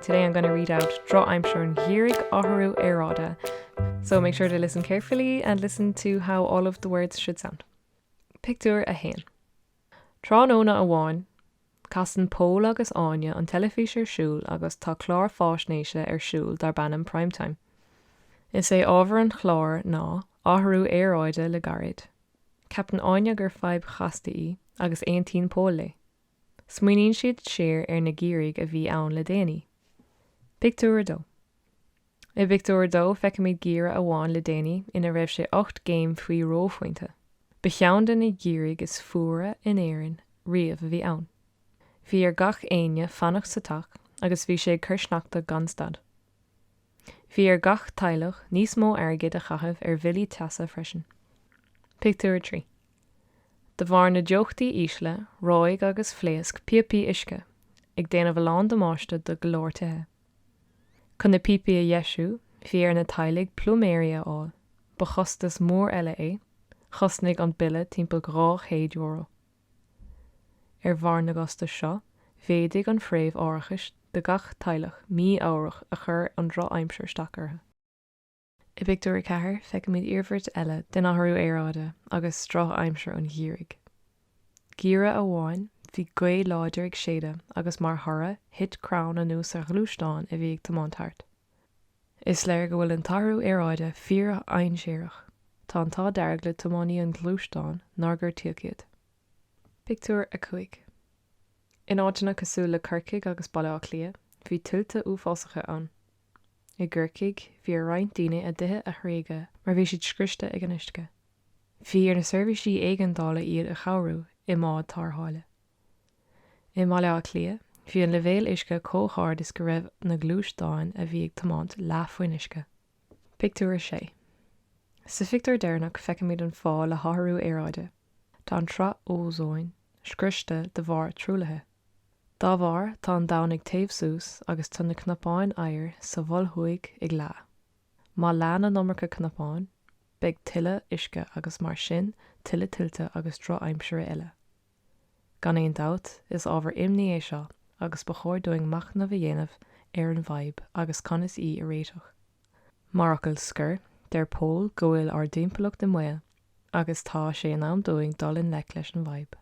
Today I'm gonna read out Drochaimsir an Gheimhridh Athrú Aeráide So make sure to listen carefully and listen to how all of the words should sound. Pictiúr 1 Tráthnóna amháin, casann Pól agus Áine an teilifís ar siúl agus tá clár faisnéise ar siúl darb ainm Prime Time. Is é ábhar an chláir ná athrú aeráide le gairid. Ceapann Áine gur fadhb chasta í agus aontaíonn Pól léi. Smaoiníonn siad siar ar na geimhrí a bhí ann le déanaí. Pictiúr 2. I bpictiúr 2 feicimid geimhreadh amháin le déanaí ina raibh sé ocht gcéim faoin reophointe. Ba cheann de na geimhrí is fuaire in Éirinn riamh a bhí ann. Bhí ar gach éinne fanacht sa teach agus bhí sé ag cur sneachta gan stad. Bhí ar gach teaghlach níos mó airgid a chaitheamh ar bhillí teasa freisin. Pictiúr 3. De bharr na dteochtaí ísle, reoigh agus phléasc píopaí uisce, ag déanamh a lán damáiste do go leor tithe. Chun na píopaí a dheisiú, bhí ar na teaghlaigh pluiméirí a fháil, ba chostas mór eile é, chosnaigh an bille timpeall €200. Ar bharr na gcostas seo, mhéadaigh an phréimh árachais do gach teaghlach mí-ámharach a chuir an drochaimsir isteach orthu. I bpictiúr a ceathair feicimid iarmhairt eile den athrú aeráide agus drochaimsir an gheimhridh. Geimhreadh amháin bhí gaoth láidir ag séideadh agus mar thoradh thit crann anuas ar ghluaisteán a bhí ag tiomáint thart. Is léir go bhfuil an t-athrú aeráide fíordhainséarach. Tá an t-ádh dearg le tiománaí an ghluaisteáin nár gortaíodh iad. Pictiúr 5 In áiteanna cosúil le Corcaigh agus Baile Átha Cliath bhí tuilte uafásacha ann. I gCorcaigh bhí ar roinnt daoine a dtithe a thréigeadh mar bhí siad scriosta ag an uisce. Bhí ar na seirbhísí éigeandála iad a chabhrú i mbád tarrtháile. I mBaile Átha Cliath bhí an leibhéal uisce chomh hard is go raibh na gluaisteáin a bhí ag tiomáint leath faoin uisce. Pictiúr 6. Sa phictiúr deireanach feicimid an fáth le hathrú aeráide. Tá an tsraith ózóin scriosta de bharr truaillithe. Dá bharr tá an domhan ag téamh suas agus tá na cnapáin oighir sa Mhol Thuaidh ag leá. Má leánn an iomarca cnapán, beidh tuilleadh uisce agus mar sin tuilleadh tuilte agus drochaimsire eile. Gan aon dabht, is ábhar imní é seo agus ba chóir dúinn machnamh a dhéanamh ar an bhfadhb agus conas í a réiteach. Mar fhocal scoir, deir Pól go bhfuil ár dtimpeallacht i mbaol agus tá sé in am dúinn dul i ngleic leis an bhfadhb.